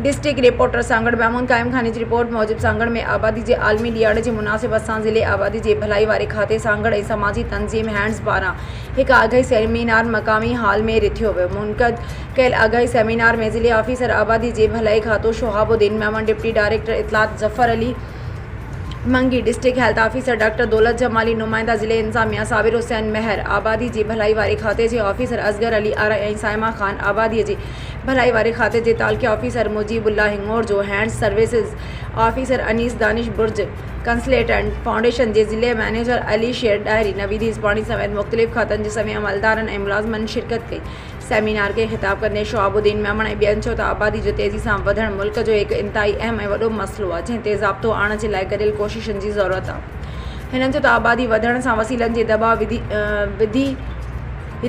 District reporter Sanghar Mahmood Qaim Khani جي report موجب سانگهڙ ۾ آبادي جي عالمي ڏيهاڙي جي مناسبت سان ضلعي آبادي جي ڀلائي واري کاتي سانگهڙ ۽ سماجي تنظيم هينڊز پاران هڪ آگاهي سيمينار مقامي هال ۾ رٿيو ويو منعقد ڪيل آگاهي سيمينار ۾ ضلعي آفيسر آبادي جي ڀلائي کاتو شهاب الدين ميمڻ ڊپٽي ڊائريڪٽر اطلاعات Zafar Ali Mangi district health officer doctor Daulat Jamali نمائندا ضلعي انتظاميا صابر حسين مهر آبادي جي ڀلائي واري کاتي جي آفيسر اصغر علي آرائي ۽ صائمه خان آبادي جي ڀلائي واري کاتي جي تعلقي آفيسر مجيب الله هڱور جو hand services officer Anees Danish برج، ڪنسلٽنٽ فائونڊيشن جي ضلعي مئنيجر علي شير ڏاهري، نويد هيسباڻي سميت مختلف کاتن جي سوين عملدارن ۽ ملازمن شرڪت ڪئي. سيمينار کي خطاب ڪندي شهاب الدين ميمڻ ۽ ٻين چيو ته آبادي جو تيزي سان وڌڻ ملڪ جو هڪ انتهائي اهم ۽ وڏو مسئلو آهي جنهن تي ضابطو آڻڻ جي لاء گڏيل ڪوششن جي ضرورت آهي. هنن چيو ته آبادي وڌڻ سان وسيلن جي دٻاء وڌي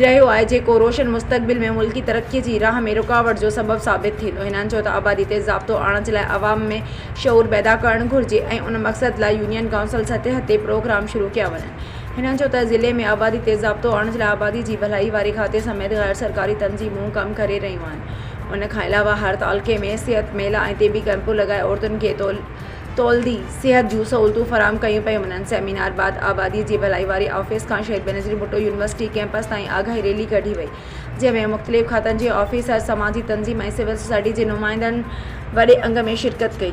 رهيو آهي جيڪو روشن مستقبل ۾ ملڪي ترقي جي راهه ۾ رڪاوٽ جو سبب ثابت ٿيندو. هنن چيو ته آبادي تي ضابطو آڻڻ جي لاء عوام ۾ شعور پيدا ڪرڻ گهرجي ۽ ان مقصد لاء يونين ڪائونسل سطح تي پروگرام شروع ڪيا وڃن. هنن چيو ته ضلعي ۾ آبادي تي ضابطو آڻڻ جي لاء آبادي جي ڀلائي واري کاتي سميت غير سرڪاري تنظيمون ڪم ڪري رهيون آهن. ان کان علاوه هر تعلقي ۾ صحت ميلا ۽ طبي ڪئمپون لڳائي عورتن کي تو. تولدي صحت جون سهولتون فراهم ڪيون پيون وڃن، سيمينار بعد آبادي جي ڀلائي واري آفيس کان شهيد بينظير ڀٽو يونيورسٽي ڪيمپس تائين آگاهي ريلي ڪڍي وئي، جنهن ۾ مختلف کاتن جي آفيسرز، سماجي تنظيم ۽ سول سوسائٽي جي نمائندن وڏي انگ ۾ شرڪت ڪئي.